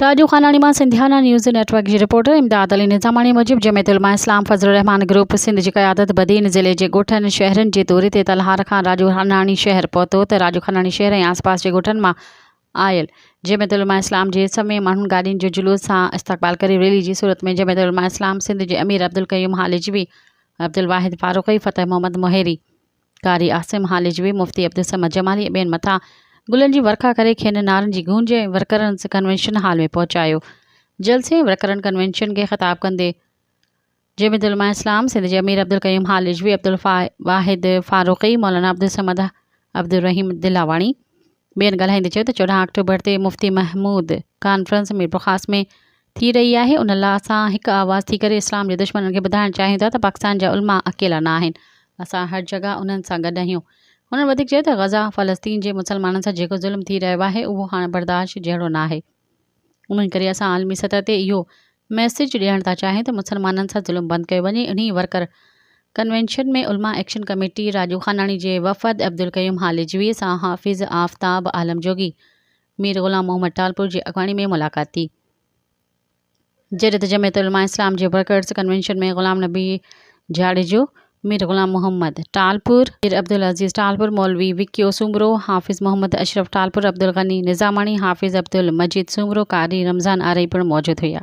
راڄو خاناڻي مان Sindhiana news network جي reporter Imdad Ali Nizamani موجب جمعيت علماء اسلام فضل الرحمان گروپ سنڌ جي قيادت بدين ضلعي جي ڳوٺن شهرن جي دوري تي تلهار کان راڄو خاناڻي شهر پهتو ته راڄو خاناڻي شهر ۽ آس پاس جي ڳوٺن مان آيل جمعيت علماء اسلام جي سوين ماڻهن گاڏين جو جلوس سان استقبال ڪري ريلي جي صورت ۾ جمعيت علماء اسلام سنڌ جي امير عبدالقيوم هالجوي عبدالواحد فاروقي فتح محمد مهيري قاري عاصم هاليجوي، مفتي عبدالصمد جمالي ۽ ٻين مٿان گلن جي ورکا ڪري کين نعرن جي گونج ۽ ورڪرنس ڪنوينشن هال ۾ پهچايو. جلسي ۽ ورڪرن ڪنوينشن کي خطاب ڪندي جمعيت علماء اسلام سنڌ جي امير عبدالقيوم هاليجوي، عبدالواحد فاروقي، مولانا عبدالصمد عبدالرحيم دلاواڻي، ٻين ڳالهائيندي چيو ته چوڏهن آڪٽوبر تي مفتي محمود ڪانفرنس ميرپورخاص ۾ ٿي رهي آهي ان لا اسان هڪ آواز ٿي ڪري اسلام جي دشمنن کي ٻڌائڻ چاهيون ٿا ته پاڪستان جا علماء اڪيلا نه آهن اسان هر جڳهه انهن سان گڏ اهيون هنن وڌيڪ چيو ته غزه فلسطين جي مسلمانن سان جيڪو ظلم ٿي رهيو آهي اهو هاڻ برداشت جهڙو ناهي انهي ڪري اسان عالمي سطح تي اهو ميسيج ڏيڻ ٿا چاهين ته مسلمانن سان ظلم بند ڪيو وڃي، انهي ورڪر ڪنوينشن ۾ علماء ايڪشن ڪميٽي راڄو خاناڻي جي وفد عبدالقيوم هاليجوي سان حافظ آفتاب عالم جوڳي، مير غلام محمد ٽالپور جي اڳواڻي ۾ ملاقات ٿي. جڏهن ته جمعيت علماء اسلام جي ورڪرز ڪنوينشن ۾ غلام نبي جاڙيجو، مير غلام محمد ٽالپر، مير عبدالعزيز ٽالپر، مولوي وڪيو سومرو، حافظ محمد اشرف ٽالپر، عبدالغني نظاماڻي، حافظ عبدالمجيد سومرو، قاري رمضان آرائي پڻ موجود هيا.